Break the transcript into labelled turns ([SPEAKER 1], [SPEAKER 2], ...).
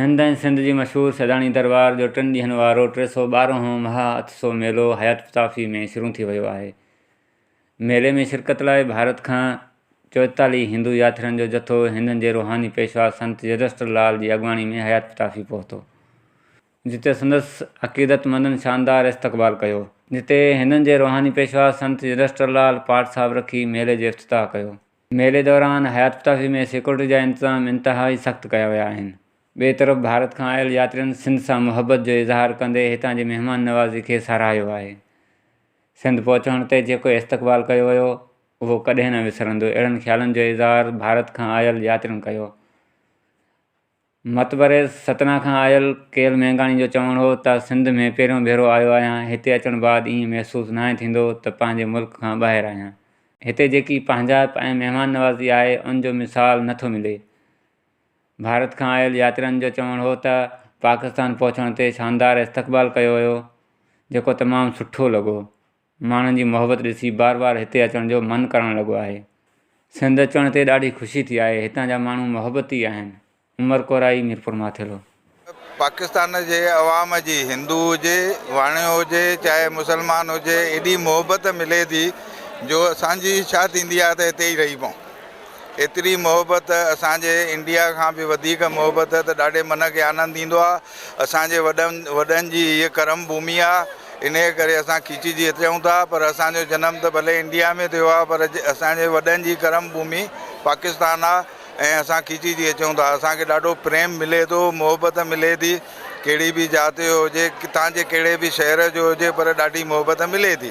[SPEAKER 1] هند ۽ سنڌ جي مشهور سيداڻي درٻار جو ٽن ڏينهن وارو ٽي سؤ ٻارهن هون مها اتسو ميلو حيات پتافي ۾ شروع ٿي ويو آهي. ميلي ۾ شرڪت لاء ڀارت کان چوئيتاليهه هندو ياترين جو جٿو هندن جي روحاني پيشوا سنت يدشٽر لال جي اڳواڻي ۾ حيات پتافي پهتو جتي سندس عقيدت مندن شاندار استقبال ڪيو. جتي هندن جي روحاني پيشوا سنت يدشٽر لال پاٽ صاحب رکي ميلي جو افتتاح ڪيو. ميلي دوران حيات پتافي ۾ سيڪيورٽي جا انتظام انتهائي سخت ڪيا ويا آهن. ٻئي طرف ڀارت کان آيل ياترين سنڌ سان محبت جو اظهار ڪندي هتان جي مهمان نوازي کي ساراهيو آهي. سنڌ پهچڻ تي جيڪو استقبال ڪيو ويو اهو ڪڏهن نه وسرندو اهڙن خيالن جو اظهار ڀارت کان آيل ياترين ڪيو. متبري ستنا کان آيل ڪيل مينگاڻي جو چوڻ هو ته سنڌ ۾ پهريون ڀيرو آيو آهيان، هتي اچڻ بعد ائين محسوس ناهي ٿيندو ته پنهنجي ملڪ کان ٻاهر آهيان. هتي جيڪي پنهنجائپ ۽ مهمان نوازي آهي ان جو مثال نه ٿو ملي. ڀارت کان آيل ياترين جو چوڻ هو ته پاڪستان پهچڻ تي شاندار استقبال ڪيو ويو جيڪو تمام سٺو لڳو. ماڻهن جي محبت ڏسي بار بار هتي اچڻ جو من ڪرڻ لڳو آهي. سنڌ اچڻ تي ڏاڍي خوشي ٿي آهي، هتان جا ماڻهو محبتي آهن. عمر ڪورائي ميرپور ماٿيرو. پاڪستان
[SPEAKER 2] جي عوام جي هندو هجي، واڻيو هجي، چاهي مسلمان هجي ايڏي محبت ملي ٿي جو اسان جي اڇا ٿيندي آهي ته هتي ئي رهي پئون. ايتري محبت اسان جي انڊيا کان به وڌيڪ محبت ته ڏاڍي من کي آنند ايندو آهي. اسان جي وڏن وڏن جي هيء ڪرم ڀومي آهي. انهيء ڪري اسان کيچجي اچون ٿا، پر اسان جو جنم ته ڀلي انڊيا ۾ ٿيو آهي، پر اسان جي وڏن جي ڪرم ڀومي پاڪستان آهي ۽ اسان کيچجي اچون ٿا. اسان کي ڏاڍو پريم ملي ٿو، محبت ملي ٿي، ڪهڙي به ذات جو هجي، ڪٿان جي ڪهڙي به شهر جو هجي، پر ڏاڍي محبت ملي ٿي.